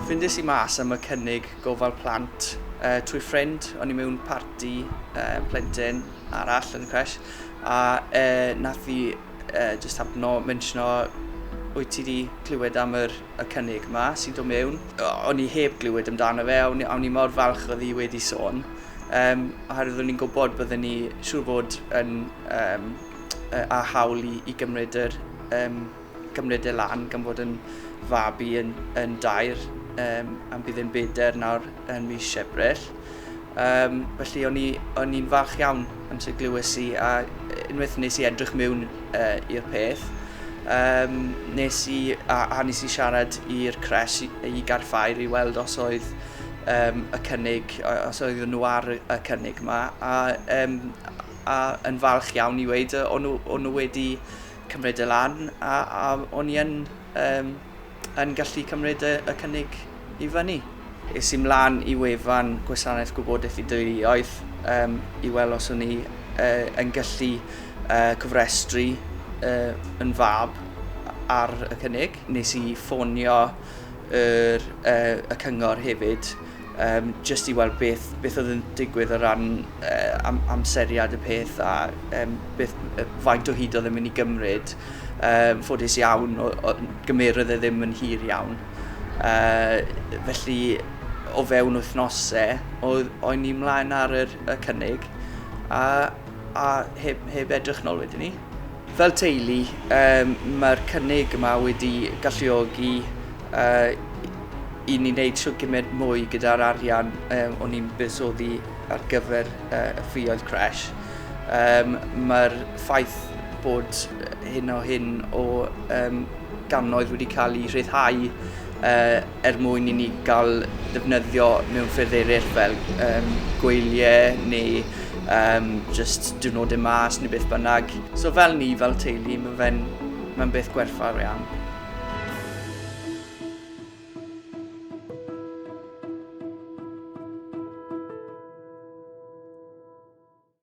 Ffindes i mas am y cynnig gofal plant uh, trwy ffrind, o'n i mewn parti uh, plentyn arall yn y cres, a uh, nath i uh, just hapno mentiono wyt ti wedi clywed am yr y cynnig 'ma sy'n dod mewn. O'n i heb glywed amdano fe a o'n i mor falch oedd hi wedi sôn, um, oherwydd o'n i'n gwybod bydden ni siŵr fod yn um, a hawl i, i gymryd, yr, um, gymryd e lan gan fod yn fabi yn, yn dair um, am bydd yn beder nawr yn mis Ebrill. Yym, felly o'n i o'n i'n falch iawn amser glywes i a unwaith nes i edrych mewn uh, i'r peth, um, nes i, a, a nes i siarad i'r cres i, i garffair i weld os oedd um, y cynnig, os oedd nhw ar y cynnig yma, a, um, a yn falch iawn i weid o'n nhw, nhw wedi cymryd y lan, a, a o'n i yn um, yn gallu cymryd y y cynnig i fyny. Es i 'mlaen i wefan Gwasanaeth Gwybodaeth i Deuluoedd um, i weld os o'n i uh, yn gallu uh, cofrestru uh, yn fab ar y cynnig. Nes i ffonio yr, uh, y cyngor hefyd Yym jyst i weld beth beth oedd yn digwydd o ran yy am- amseriad y peth a yym beth yy faint o hyd oedd e'n mynd i gymryd. Yym ffodus iawn o- o- gymerodd e ddim yn hir iawn. Yy felly o fewn wythnose oedd o'n ni mlaen ar yr y cynnig a a heb heb edrych nôl wedyn 'ny. Fel teulu, mae'r cynnig yma wedi galluogi i ni wneud shwt gymaint mwy gyda'r arian o'n ni'n buddsoddi ar gyfer y ffioedd crèche. Mae'r ffaith bod hyn o hyn o gannoedd wedi cael eu rhyddhau er mwyn i ni gael defnyddio mewn ffyrdd eraill fel um, gweiliau neu um, just diwrnodau mas neu beth bynnag. So fel ni, fel teulu, mae fe'n mae beth gwerthfawr iawn.